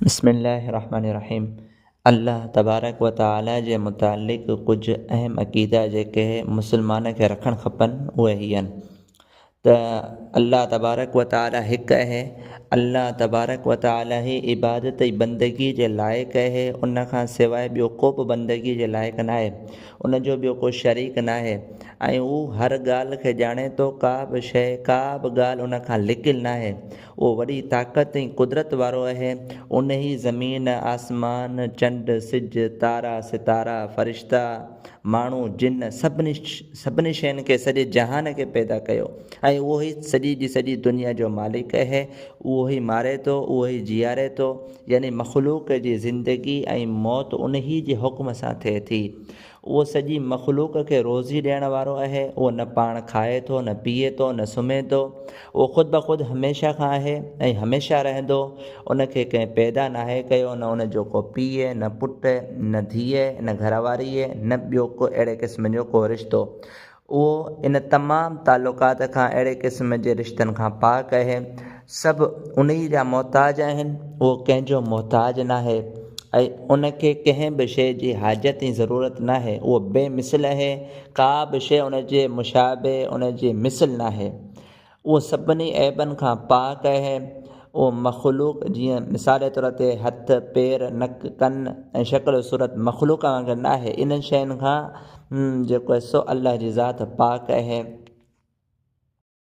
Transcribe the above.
بسم الله الرحمن الرحيم الله تبارڪ و تعاليٰ جي متعلق ڪجهه اهم عقيدا جيڪي مسلمان کي رکڻ کپن اهي هي آهن ته الله تبارڪ و تعاليٰ هڪ اهي الله تبارڪ و تعاليٰ هي عبادت ۽ بندگي جي لائق اهي ان کان سواء ٻيو ڪو به بندگي جي لائق ناهي ان جو ٻيو ڪو شريڪ ناهي ۽ هو هر ڳالهه کي ڄاڻي ٿو ڪا به شيء ڪا به ڳالهه ان کان لڪيل ناهي اهو وڏي طاقت ۽ قدرت وارو اهي، انهي زمين، آسمان، چنڊ، سج، تارا، ستارا، فرشتا، ماڻهو، جن، سڀني سڀني شين کي سڄي جهان کي پيدا ڪيو ۽ اهو ئي سڄي جي سڄي دنيا جو مالڪ اهي، اهو ئي ماري ٿو، اهو ئي جياري ٿو يعني مخلوق جي زندگي ۽ موت انهي جي حڪم سان ٿئي ٿي. اهو سڄي مخلوق کي روزي ڏيڻ وارو اهي، اهو نه پاڻ کائي ٿو، نه پيئي ٿو، نه سمهي ٿو، اهو خود بخود هميشه کان اهي ۽ هميشه رهندو، ان کي ڪنهن پيدا ناهي ڪيو، نه ان جو ڪو پيء، نه پٽ، نه ڌيء، نه گهر واريء، نه ٻيو ڪو اهڙي قسم جو ڪو رشتو، اهو ان تمام تعلقات کان اهڙي قسم جي رشتن کان پاڪ اهي سڀ انهي جا محتاج آهن اهو ڪنهن جو محتاج ناهي ۽ ان کي ڪنهن به شيء جي حاجت ۽ ضرورت ناهي اهو بي مثل اهي ڪا به شيء ان جي مشابه ان جي مثل ناهي اهو سڀني عيبن کان پاڪ اهي. اهو مخلوق جيئن مثال طور تي هٿ، پير، نڪ، ڪن ۽ شڪل و صورت مخلوق وانگر ناهي انهن شين کان جيڪو سو الله جي ذات پاڪ اهي.